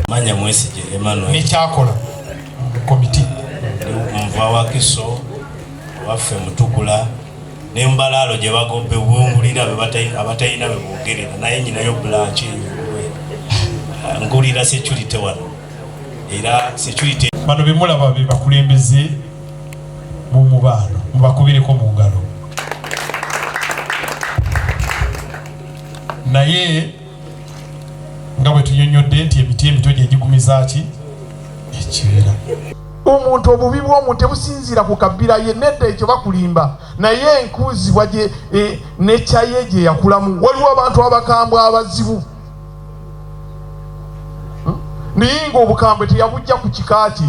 manya mwesije Emmanuel nekyakola komiti nva wakiso waffe mutukula nembalaalo gye bagobbe bwungulira abatalina be boogerera naye nyinayo bulanki ngulira security wano era security bano bemulaba be bakulembeze mu mubaano mubakubireko mu ngalo naye nga bwe tunyonyodde nti emiti emito gye gigumiza ki ekibeera omuntu obubi bw'omuntu tebusinziira ku kabbira ye nedda ekyo bakulimba naye enkuuzibwa gye e, nekyaye gye yakulamu waliwo abantu abakambwe abazibu hmm? naye nga obukambwe teyabujja ku kika kye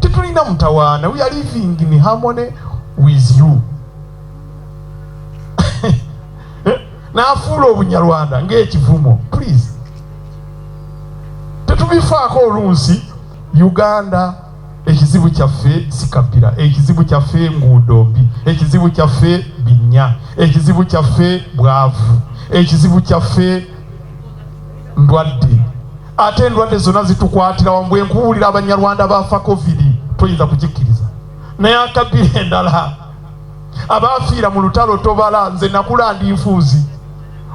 tetulina mutawaana we are living in harmony with you n'afuula obunyarwanda ng'ekivumo please tetubifaako olunsi uganda ekizibu kyaffe sikabbira ekizibu kyaffe nguudo mbi ekizibu kyaffe binnya ekizibu kyaffe bwavu ekizibu kyaffe ndwadde ate endwadde zonna zitukwatira wamu bwe nkubuulira abanyarwanda baafa covid toyinza kugikkiriza naye akabbira endala abaafiira mu lutalo tobala nze nakula ndi nfuuzi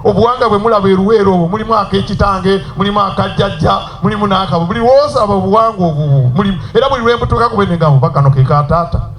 obuwanga bwe mulaba eruweero obwo mulimu akekitange mulimu akajjajja mulimu n'akabo buli woosaba obuwanga obwo mulimu era buli lwembutuuka kubenegabo bakano kekaataata